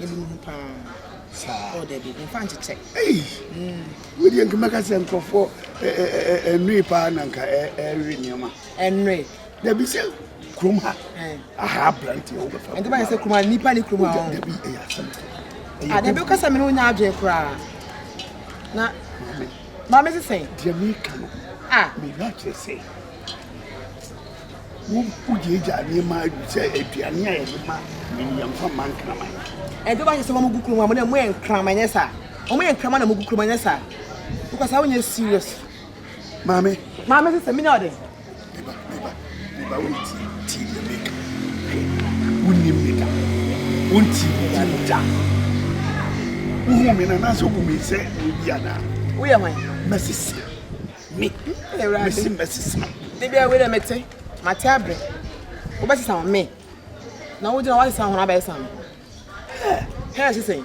na bɛhu ho paa saa ɔda bi mfa nkyekyɛ ei wodeɛ nka mɛka sɛ nkurɔfoɔ ɛnwee paa na nka ɛwe nneɛma ɛnwee dabi sɛ kurom ha aha aberanteɛ wobɛfa ɛnti bɛyɛ sɛ kurom ha nnipa ne kurom ha dabi ɛyɛ asɛm adabi wokasa me ne wonya adwene koraa na maame sesɛn deɛ meka no meyɛ akyerɛ sɛ Wogyaagyaa nneɛma sɛ aduane a yɛde ma nea yɛmfa mma nkraman. Ɛnde wɔahyɛ sɛ wɔngu kurom amena mu yɛ nkraman nyɛ saa. Wɔyɛ nkraman na wɔgu kurom nyɛ saa. Wokɔ saa wonyɛ serious. Maame. Maame sɛ sɛ menya ɔdɛ. Meba meba meba wo ti ti yɛ meka. Wonim ne da. Wonti ne da ne da. Wohu me na na sɛ wobu me sɛ obi anaa. Woyɛ hwan? Mɛsisi. Me, me Awurade. Mesi mɛsesa wo. Da biara wei na mete, mate abrɛ. Wobɛsesa wo me. Na wogyina woasesa wo ho na abɛsesa me. Hɛ, hɛ sesɛn.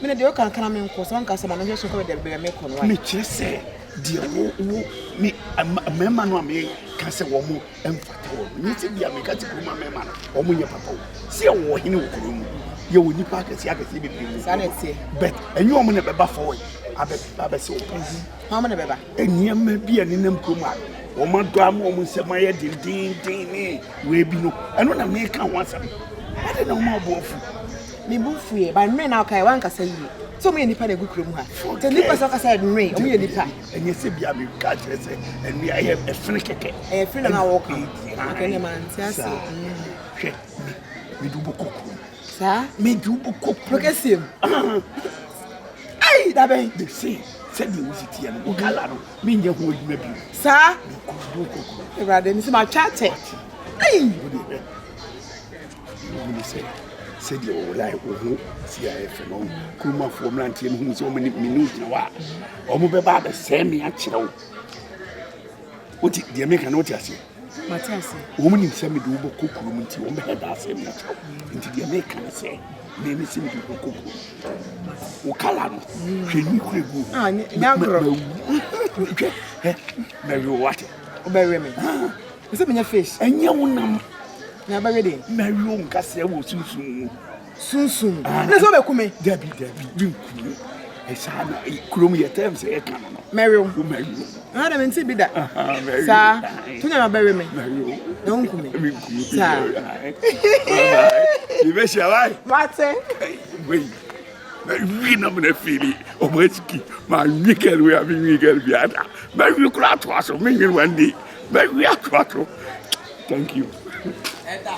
Me na deɛ woka nka na menkɔ, sɛ woanka sɛ ma menhwɛ so nkɔ baabi a mekɔ no. Mekyerɛ sɛ deɛ wo, wo, me, mmarima no a meka sɛ wɔn Mfata wɔn. Nea enti bia meka te kuroma mmarima no, wɔn nyɛ papa o. Sɛ yɛwɔ ɔhene wɔ kuro mu, yɛwɔ nnipa akɛseɛ akɛseɛ bebree wɔ kuro mu. But ɛnyɛ wɔn na ɛbɛba forward abɛ abɛsɛ wɔn pɛsi. Wɔn na ɛbɛba. Nneɛma bi a nenam kurom a wɔn adɔ ama wɔn nsɛm ayɛ dendenden ne wei bi no, ɛno na meka ho asɛm. Ɛde na wɔn a wɔbɔ afu. Me bu fuiɛ, ba nwe na ɔkae wankasa yie. Sɛ wɔn yɛ nipa na egu kurom ha. Sɛ nipa sɛ ɔkasa yɛ nwe, wɔn yɛ nipa. ɛnyɛ sɛ bia meka akyerɛ sɛ ɛne ɛyɛ ɛfene kɛkɛ ɛyɛ fene na wɔka ɛne ma nte ase hwɛ mede wobɛkɔ kurom saa mede wobɛkɔ kurom kɛseɛ mu ai dabɛn de se sɛdeɛ wosi teɛ no wokala no menyɛ ho adwuma bio saa mekɔ wobɛkɔ kurom awurade mesɛ matwa atɛ ai Wohu no sɛ sɛdeɛ ɔwolae wo ho si a ɛfɛ no kurumafoɔ mmeranteɛ no hunu sɛ ɔmani mene gyina hɔ a ɔmobɛba abɛsɛe me akyerɛ wo wote deɛ meka no wote aseɛ wɔn nim sɛ mede wobɛkɔ kurom nti wɔn bɛhɛ daa sɛ me akyerɛ wo nti deɛ meka no sɛ me me sɛ mede wobɛkɔ kurom wo kala no hwɛ ni kura gu mɛwu hwɛ mɛwe wo wate wobɛwe me Mese menyɛ fish. Ɛnyɛ wo nam na ɛbɛwe deɛ. Mɛwe wo nkasɛɛ wɔ sunsum mu. Sunsum? Ah, ne sɛ wobɛku me? Dabi, dabi, menku wo. Ɛsaa na kurom yɛ tɛm sɛ yɛka no no. Mɛwe wo. Wo mɛwe wo. Ah, dɛ mente bi da. Saa, to nyɛ mabɛwe me. Mɛwe wo. Na wonku me. Menku wo. Saa. Yɛbɛhyia, wae. Mate. Wei. mɛwe na mena fiili ɔmo asiki manwe gɛl wei a menwe gɛl biara da mɛwe kora atoa so menwene wande mɛwe atoa so thank you